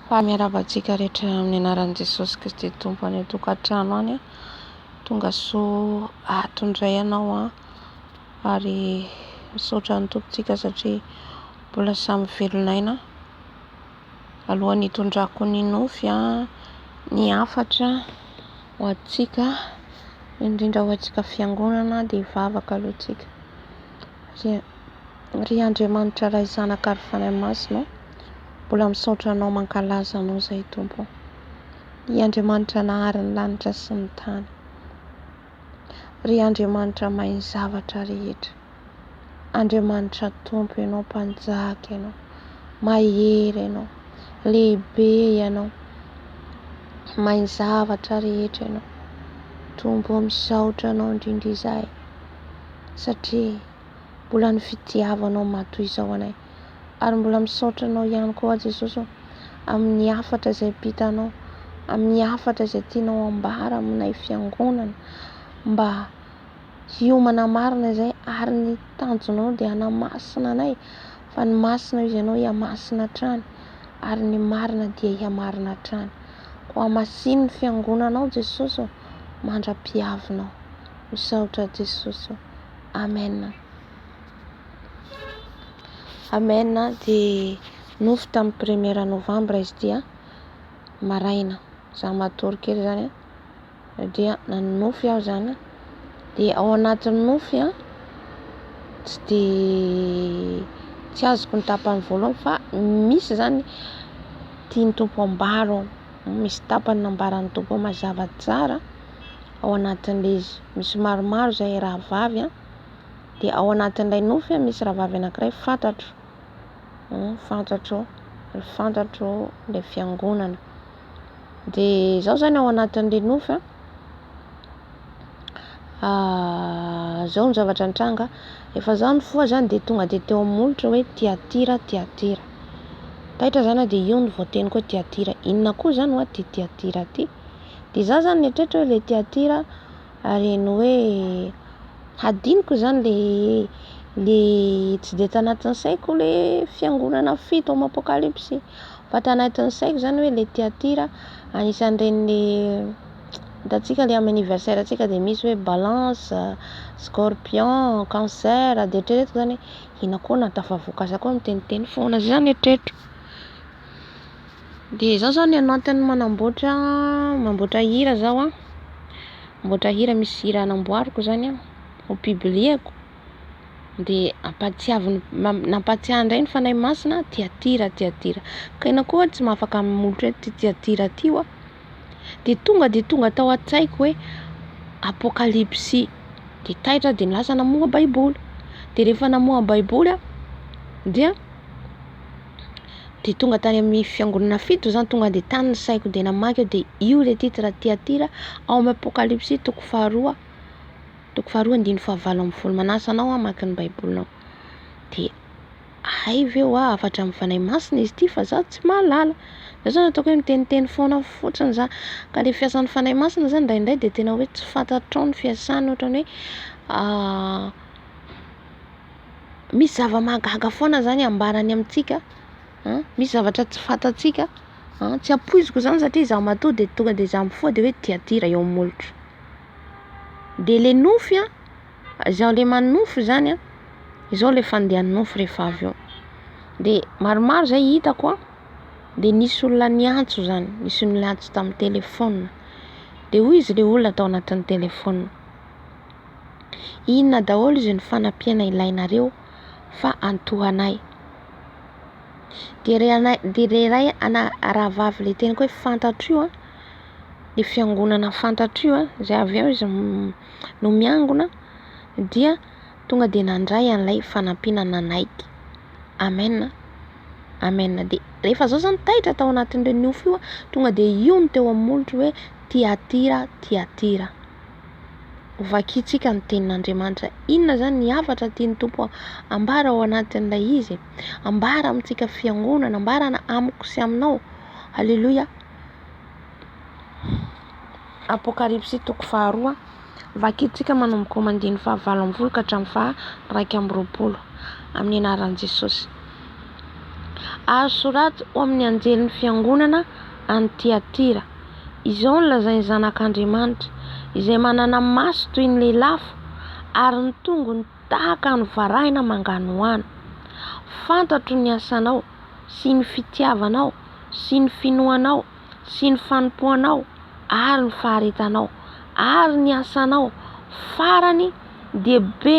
Fa miarahaba antsika rehetra amin'ny anaran'i Jesosy Kristy Tompo any an-tokantrano any. Tonga soa ato indray ianao an, ary misaotra ny Tompontsika satria mbola samy velon'aina. Alohan'ny hitondrako ny nofy an, ny hafatra ho antsika, indrindra ho antsika fiangonana dia hivavaka aloha tsika. Ry, ry Andriamanitra Ray Zanaka ary Fanahy Masina ô, mbola misaotra Anao mankalaza Anao izay Tompo ô. Ry Andriamanitra nahary ny lanitra sy ny tany. Ry Andriamanitra mahay ny zavatra rehetra. Andriamanitra Tompo Ianao, Mpanjaka Ianao, Mahery Ianao, Lehibe Ianao, mahay ny zavatra rehetra Ianao. Tompo ô, misaotra Anao indrindra izahay. satria mbola ny fitiavanao matoa izao anay ary mbola misaotra anao ihany koa Jesosy ô amin'ny hafatra izay ampitanao amin'ny hafatra izay tianao ambara aminay fiangonana mba hiomana marina izay ary ny tanjonao dia hanamasina anay fa ny masina izy ianao hiamasina hatrany ary ny marina dia hiamarina hatrany koa hamasin'ny fiangonanao Jesosy mandra-piavinao Misaotra Jesosy ô. Amen. Amen dia nofy tamin'ny première novembre izy ity a. Maraina za matory kely zany a dia nanonofy aho zany a. Dia ao anatin'ny nofy a tsy dia tsy azoko ny tapany voalohany fa misy zany tian'ny Tompo ambara ao. Misy tapany nambaran'ny Tompo ao mazava tsara. ao anatin'ilay izy misy maromaro izay rahavavy an, dia ao anatin'ilay nofy an misy rahavavy anankiray fantatro, fantatro, fantatro ilay fiangonana, dia izaho izany ao anatin'ilay nofy an, ah, izao ny zavatra nitranga, efa izaho nifoha izany dia tonga dia teo amin'ny molotra hoe Tiatira, Tiatira, taitra izany an dia io no voateniko hoe Tiatira, inona koa izany hoa ity Tiatira ity? Dia izaho izany nieritreritra hoe ilay Tiatira ary heno hoe hadinoko izany ilay ilay tsy dia tanatin'ny saiko ilay fiangonana fito ao amin'ny Apokalypsy fa tanatin'ny saiko izany hoe ilay Tiatira anisan'ireny ilay hitantsika ilay amin'ny anniversaire antsika dia misy hoe balance, scorpion, cancer dia eritreretiko izany hoe inona koa na tafavoaka aza koa miteniteny foana, izay izany no eritreritro. Dia izaho izao ny anatiny manamboatra mamboatra hira zaho an, mamboatra hira misy hira namboariko zany an, ho publieko dia ampahatsiaviny nampahatsiahy indray ny Fanahy Masina Tia Tia Ratia Tia, ka enao koa tsy mahafaka mamolotry ity Tia Tia Ratia ity hoa. Dia tonga dia tonga tao an-tsaiko hoe Apokalypsy. Dia taitra aho dia lasa namoha baiboly. Dia rehefa namoha baiboly aho dia dia tonga tany amin'ny fiangonana fito izany tonga dia tany ny saiko dia namaky aho dia io ilay titre Tiatira ao amin'ny Apokalypsy toko faharoa toko faharoa andininy fahavalo ambin'ny folo. Manasa anao hamaky ny baibolinao. Dia Hay ve hoa hafatra amin'ny Fanahy Masina izy ity fa za tsy mahalala. Zay zany ataoko hoe miteniteny foana fotsiny za. Ka le fiasan'ny Fanahy Masina zany indraindray de tena hoe tsy fantatrao ny fiasany ohatran'ny hoe misy zava-mahagaga foana zany ambarany amintsika an, misy zavatra tsy fantatsika an, tsy ampoiziko zany satria za matoa de tonga de za mifoha de hoe tiatira eo amin'ny molotro. De le nofy an. Izao ilay manonofy izany an, izao ilay fandehan'ny nofy rehefa avy eo. Dia maromaro izay hitako an, dia nisy olona niantso izany, nisy olona niantso tamin'ny telefaonina. Dia hoy izy ilay olona tao anatin'ny telefaonina, inona daholo izy ny fanampiana ilainareo fa antohanay. Dia ilay anay, dia ilay iray ana rahavavy ilay teny hoe fantatro io an, ny fiangonana fantatro io an, izay avy eo izy. no miangona dia tonga dia nandray an'ilay fanampiana nanaiky. Amen Amen dia rehefa zao zany taitra tao anatin'ireo nofo io tonga dia io no teo amin'ny molotro hoe tiatira tiatira ho vakintsika ny tenin'Andriamanitra inona zany ny hafatra tian'ny tompo ambara ao anatin'ilay izy ambara amintsika fiangonana ambarana amiko sy aminao aleloia Apokalypsy toko faharoa. Vakintsika manomboka ao amin'ny andininy fahavalo ambin'ny folo ka hatramin'ny faha iraika amby roapolo amin'ny anaran'i Jesosy. Ary soraty ho amin'ny anjelin'ny fiangonana any Tiatira, Izao no lazain'ny Zanak'Andriamanitra, izay manana maso toy ny lelafo ary ny tongony tahaka ny varahina manganohano, Fantatro ny asanao sy ny fitiavanao sy ny finoanao, sy ny fanompoanao ary ny faharetanao ary ny asanao farany dia be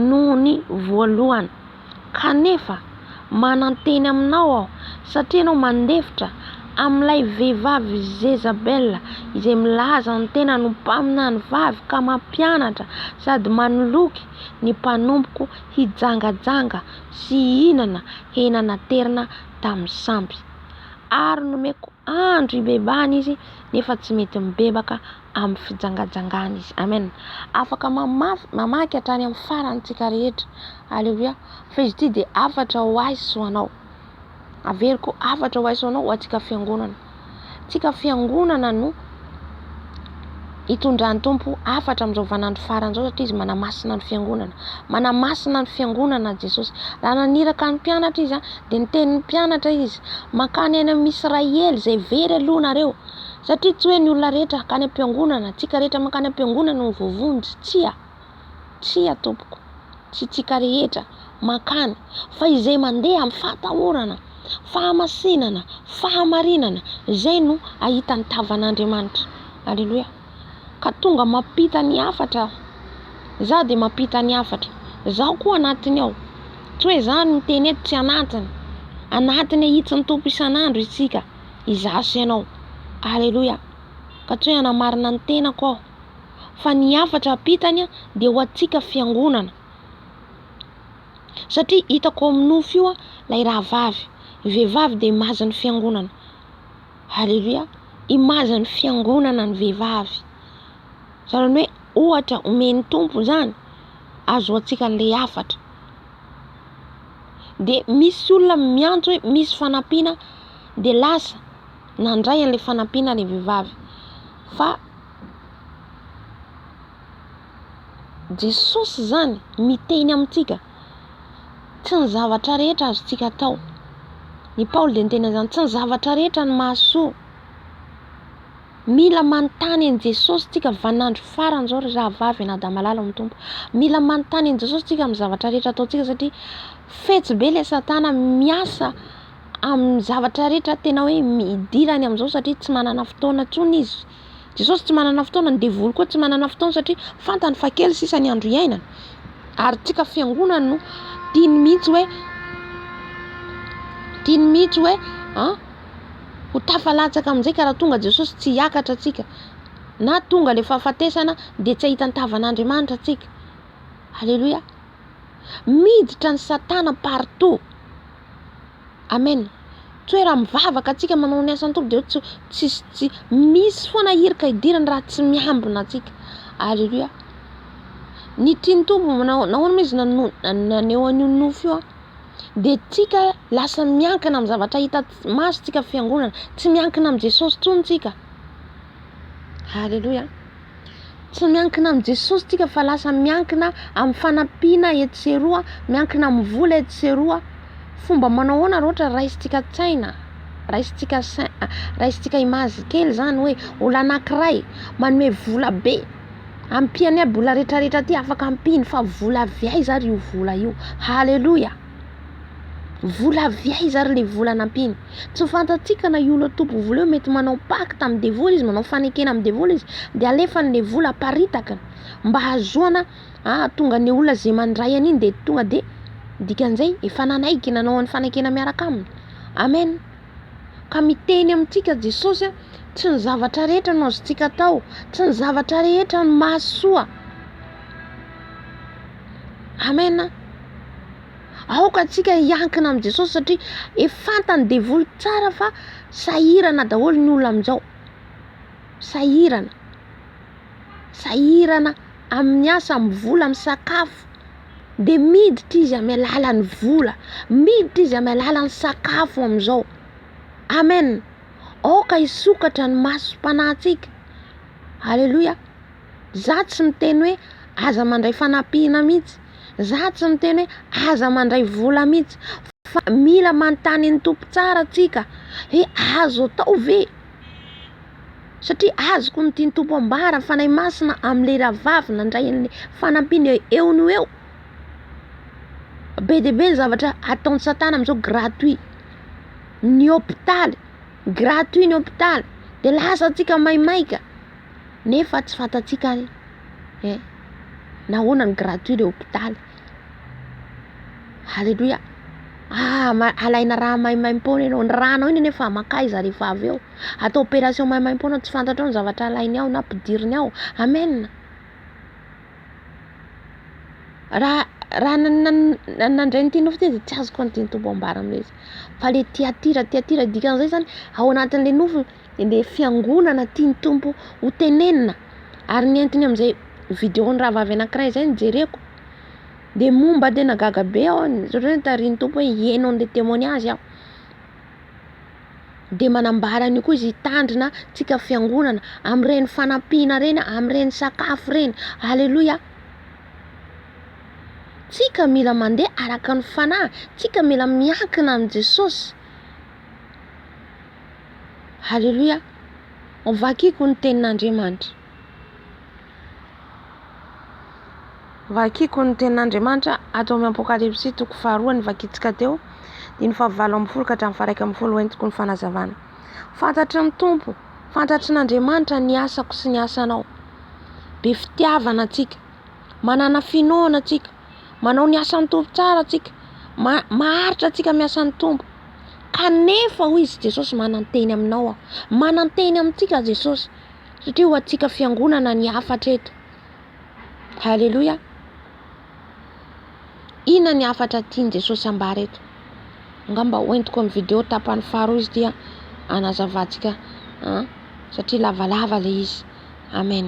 noho ny voalohany. Kanefa, mananteny aminao aho, satria ianao mandefitra amin'ilay vehivavy Jezabela, izay milaza ny tenany ho mpaminany vavy ka mampianatra sady manoloky ny mpanompoko hijangajanga sy hihinana hena naterina tamin'ny sampy. ary nomeko andro hibebahana izy nefa tsy mety mibebaka amin'ny fijangajangana izy. Amen. Afaka mamafy, mamaky hatrany amin'ny farany tsika rehetra. Alléluia. Fa izy ity dia hafatra ho ahy sy ho anao. Averiko hafatra ho ahy sy ho anao ho antsika fiangonana. Tsika fiangonana no hitondran'ny Tompo hafatra amin'izao vaninandro farany izao satria izy manamasina ny fiangonana. Manamasina ny fiangonana Jesosy. Raha naniraka ny mpianatra izy dia niteny ny mpianatra izy, mankany any amin'ny Israely izay very aloha nareo. Satria tsy hoe ny olona rehetra hankany am-piangonana, antsika rehetra mankany am-piangonana no voavonjy, tsia. Tsia tompoko, tsy tsika rehetra mankany fa izay mandeha amin'ny fahatahorana, fahamasinana, fahamarinana izay no ahita ny tavan'Andriamanitra. Aleloia. Ka tonga mampita ny hafatra aho. Izaho dia mampita ny hafatra. Izaho koa anatiny ao. Tsy hoe izaho no miteny eto, tsy anatiny. Anatiny ahitsin'ny Tompo isan'andro isika, izaho sy ianao. Aleloia. Ka tsy hoe hanamarina ny tenako aho. fa ny hafatra ampitany dia ho antsika fiangonana satria hitako ao amin'ny nofo io ilay rahavavy ny vehivavy dia imazy ny fiangonana haleloia imazy ny fiangonana ny vehivavy izany hoe ohatra omen'ny tompo izany azo antsika an'ilay hafatra dia misy olona miantso hoe misy fanampiana dia lasa nandray an'ilay fanampiana ilay vehivavy fa Jesosy izany miteny amintsika, tsy ny zavatra rehetra azontsika atao. I Paoly dia niteny an'izany, tsy ny zavatra rehetra no mahasoa. Mila manontany an'i Jesosy isika vaninandro farany izao ry rahavavy anadamalala ao amin'ny Tompo. Mila manontany an'i Jesosy isika amin'ny zavatra rehetra ataontsika satria fetsy be ilay satana miasa. amin'ny zavatra rehetra tena hoe idirany amin'izao satria tsy manana fotoana intsony izy. Jesosy tsy manana fotoana, ny devoly koa tsy manana fotoana satria fantany fa kely sisa ny andro iainany. Ary tsika fiangonana no tiany mihitsy hoe tiany mihitsy hoe an ho tafalatsaka amin'izay ka raha tonga Jesosy tsy hiakatra tsika na tonga ilay fahafatesana dia tsy hahita ny tavan'Andriamanitra tsika. Aleloia. Miditra ny satana partout. Amen toera mivavaka atsika manao ny asan'ny tompo de tsy tsisy tsy misy foana hirika hidirany raha tsy miambina atsika aleloia ny tian'ny tompo manao nahoana izy naneho an'io nofy io a de tsika lasa miankina amin'ny zavatra hita maso tsika fiangonana tsy miankina amin'i jesosy tsony tsika aleloia Tsy miankina amin'i Jesosy isika fa lasa miankina amin'ny fanampiana etsy sy eroa, miankina amin'ny vola etsy sy eroa. Fomba manao ahoana raha ohatra raisintsika tsaina, raisintsika sain, raisintsika image kely izany hoe olona anankiray manome vola be, ampiany aby olona rehetrarehetra aty afaka ampiany fa vola avy aiza ary io vola io? Haleloia! Vola avy aiza ary le vola nampiany? Tsy fantatsika na io le tompony vola io mety manao pacte amin'ny devoly izy, manao fanekena amin'ny devoly izy de alefany le vola aparitaka mba hahazoana hahatonga ny olona ze mandray an'iny de tonga de dikan'izay efa nanaiky nanao an'ny fanekena miaraka aminy. Amen. Ka miteny amintsika Jesosy a, tsy ny zavatra rehetra no azontsika atao, tsy ny zavatra rehetra no mahasoa. Amena. Aoka antsika hiankina amin'i Jesosy satria efa fantan'ny devoly tsara fa sahirana daholo ny olona amin'izao. Sahirana. Sahirana amin'ny asa, amin'ny vola, amin'ny sakafo. Dia miditra izy amin'ny alalan'ny vola, miditra izy amin'ny alalan'ny sakafo amin'izao. Amen. Aoka hisokatra ny masom-panahintsika. Alléluia. Za tsy miteny hoe aza mandray fanampiana mihitsy, za tsy miteny hoe aza mandray vola mihitsy fa mila manontany an'i Tompo tsara tsika hoe azo atao ve? Satria azoko ny tian'i Tompo ambara, ny Fanahy Masina amin'ilay rahavavy nandray an'ilay fanampiana eo no eo. Be dia be ny zavatra ataon'i satana amin'izao gratuit, ny hopitaly, gratuit ny hopitaly de lasa antsika maimaika. nefa tsy fantatsika ary eh nahoana no gratuit le hopitaly aleloia ah ma- alaina raha maimaimpoana ianao ny ranao iny anefa makaiza rehefa avy eo atao operation maimaimpoana tsy fantatrao ny zavatra alainy ao na ampidiriny ao amen raha raha na- na- na- nandray ny teninao fotsiny izy tsy azoko ny teny tompo ambara amin'ilay izy fa le tiatira tiatira dikan'izay zany ao anatin'le nofo Ilay fiangonana tian'ny Tompo ho tenenina ary nentiny amin'izay vidéo-n'ny rahavavy anankiray izay no jereko dia momba dia nagaga be aho satria notarihin'ny Tompo hoe hiheno an'ilay témoignage aho. Dia manambara an'io koa izy hitandrina antsika fiangonana amin'ireny fanampiana ireny, amin'ireny sakafo ireny. Aleloia! Tsika mila mandeha araka ny fanahy, tsika mila miankina amin'i Jesosy. Haleloia! Ho vakiko ny tenin'Andriamanitra. Vakiko ny tenin'Andriamanitra ato amin'ny Apokalypsy toko faharoa ny vakintsika teo, diny fahavalo ambin'ny folo ka hatramin'ny faharaika ambin'ny folo entiko ny fanazavana. Fantatry ny Tompo, fantatry n'Andriamanitra ny asako sy ny asanao. Be fitiavana antsika, manana finoana antsika. Manao ny asan'ny Tompo tsara tsika. Ma- maharitra tsika amin'ny asan'ny Tompo. Kanefa, hoy izy Jesosy, mananteny aminao aho. Mananteny amintsika Jesosy. Satria ho antsika fiangonana ny hafatra eto. Haleloia. Inona ny hafatra tian'i Jesosy ambara eto? Angamba hoentiko amin'ny video tapany faharoa izy ity hanazavantsika satria lavalava ilay izy. Amen.